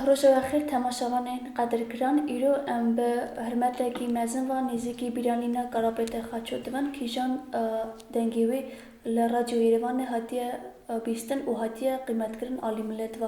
Rojava xêr temaşevanên qedirgiran, îro em bi hirmetekî mezin ve nêzîkî bîranîna Karapêtê Xaço dibin. Kîjan dengê wê li Radyo Yêrêvanê hatiye bîstin û hatiye qîmetkirin alî milet ve.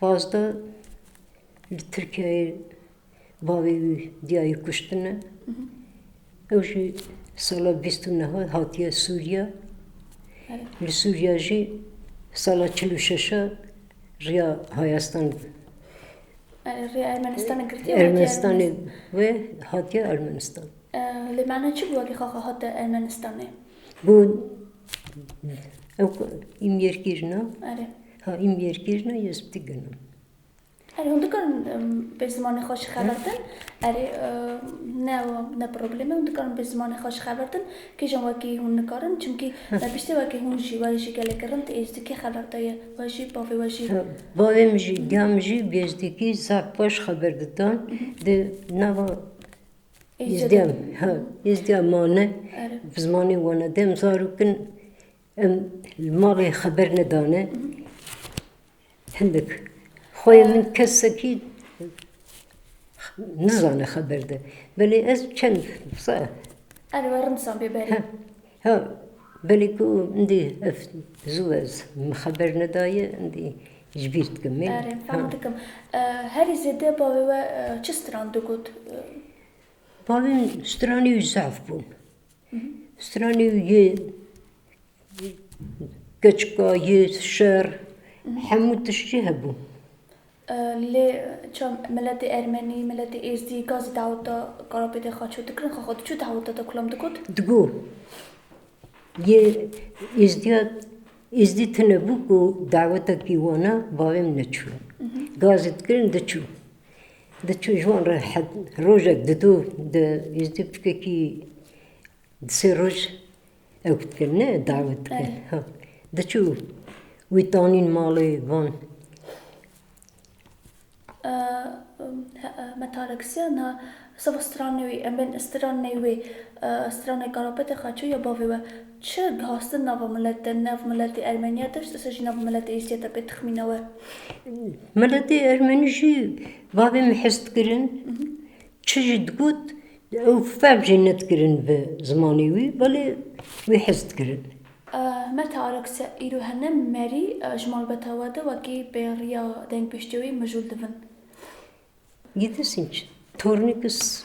Pazda li Tirkiyeyê bavê wî diyayê kuştine. Ew jî sala bîst û neh hatiye Sûriye. Li Sûriye jî sala çil û şeş riya Hayastan Riya Ermenistanê girtiye Ermenistanê wê hatiye Ermenistan. Lê mana çi bû wekî xaxa hate Ermenistanê? Bû ew îmyêrkirina. Ha im yêrkirina yê ji ti gino. Erê hûn dikarin bê zimanê xwe ji xebertin? Erê ne ne problem e hûn dikarin bê zimanê xwe ji xebertin. Kîjan wekî hûn nikarin? Çimkî me biştê wekî hûn jî we jî gelekî rind ê ji dikî xeber daye. We jî bavê we jî. Bavê min jî giya min jî bê ji dikî zaf baş xeber didan. Di nava Êzdiyan ha Êzdiyan mane. Bi zimanê wan e dem zarok in. Em li malê xeber nedane hindik. Xweyê min kesekî nizane xeber de. Belê ez çend saet. Erê we rimsan bê berî. Ha belê ku indî ev zû ez min xeber nedaye indî ji bîr dikim. Erê fam dikim. Herî zêde bavê we çi stran digot? Bavê min stranî û zaf bûn. Stranî û yê keçika yê şer hemû tişt jî hebû. Lê ça miletê ermenî, miletê êzdî ka zî daweta Karapêtê xwe çû dikirin? Xwe xwe diçû daweta te kulam digot? Digot. Yê êzdîya êzdî tune bû ku dawetekî wana bavê min e çû. Ka zî dikirin diçû. Diçû ji wan re rojek didu di êzdî biçûkekî di sê roj ew dikir ne dawet dikir ha diçû wî danîn malê van. Me tareksiya na seba stranê wî em bên stranê wê stranê karopetê xaçû ya bavê we. Çi dixwastin nava milete, nav miletê Ermeniya tişt ise jî nav miletê Êzidiyete pê tixmîne we? Miletê Ermenî jî bavê min hes dikirin. Çi jî digot ew fehm jî nedikirin bi zimanê wî belê wî hes dikirin. Meta Arokse, Îro hene merî ji malbata we de wekî bêriya dengpêştiya wî mijûl dibin. Gidesîn çi? Tornî kes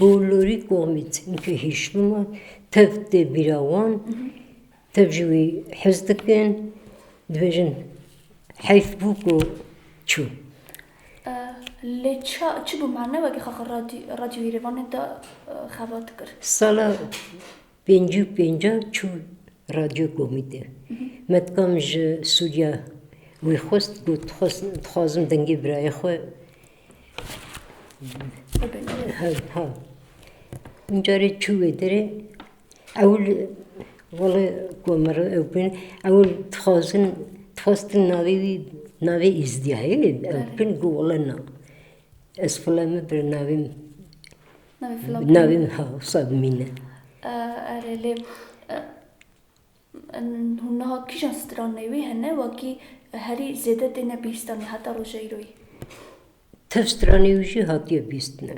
Bolorî Komît înke hîşlûma tev tê bîra wan, tev jî wî hez dikin, dibêjin heyf bû ku çû. Sala Pêncî û pêncan çû Radyo Komî de. Me dikam ji Sûriya wî xwest got dixwazim dengê birayê xwe Carê çû wê derê ewil wele komero ew bin ewil dixwazin dixwestin navê wî navê Êzdîyayê ew bin got wele na. Ez xwele me birnavê Navê min ha wisa bimîne. Erê lê hûn niha kîjan stranê wî hene wekî herî zêde têne bîstanî heta roja îroyî? Tev stranê wî jî hatiye bîstine.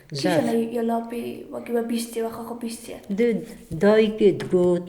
Kîjan e ya lapê wekî we bîstiye wexa xwe bîstiye? Di dayikê digot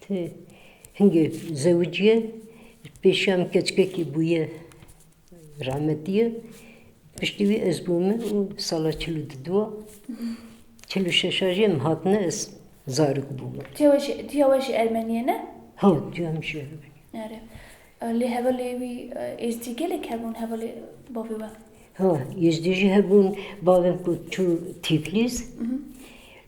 Ti hingê zewiciye pêşiya min keçikekî bûye rahmetiye piştî wî ez bûme û sala çil û du a çil û şeş a jî em hatine ez zarok bûme. Tiya we jî ermenîye ne? Ha tiya min jî ermenîye. Are lê hevalê wî êzdî gelek hebûn hevalê bavê we? Ha êzdî jî hebûn bavê min ku çû tîflîs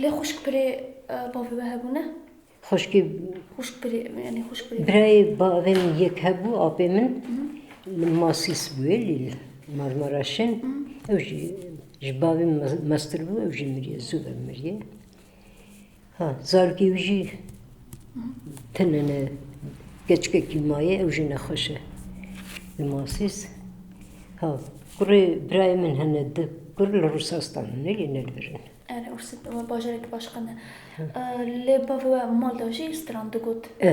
Lê xuşkbirê bavê we hebûne? Xuşkê Xuşkbirê yani xuşkbirê. Birayê bavê min yek hebû apê min li Masîs bûye lê li Marmaraşin ew jî ji bavê min mestir bû ew jî miriye zû ve miriye. Ha zarokî wî jî tune ne keçikekî maye ew jî nexweş e. Li Masîs ha kurê birayê min hene di kur li Rûsastan hene lê ne li vir in. Erê Rûsî bajarek baş qene. Lê bavê we mal de jî stran digot. E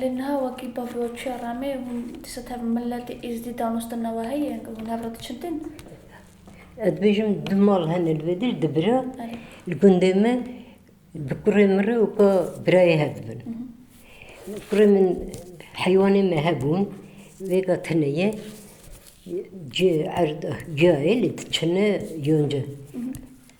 Lê niha wekî bavroçiya Ramê hûn dîsa tev miletê Êzdî danos di nava heye û hûn hev re diçin din? Ez dibêjim du mal hene li vê dir di bira li gundê me bi kurê min re weka birayê hev dibin. Kurê min heywanê me hebûn vêga tune ye cê erda ciyayê lê diçine yonca.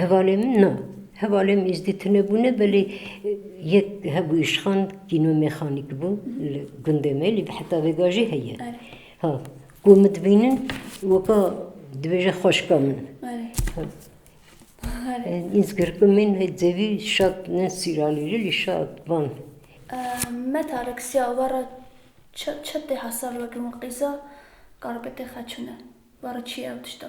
Hevalên min na. Hevalên min êzdî tune bûne belê yek hebû îşxan kîno mêxanîk bû li gundê me lê heta vêga jî heye. Ha ku min dibînin weka dibêje xweşka min. Îzgirku min hê dzêvî şat ne sîralîrî lê şat van. Me Tarik siya we re çi tê hesab wekî min qîza karpêtê xeçûne we re çi ye ew tişta?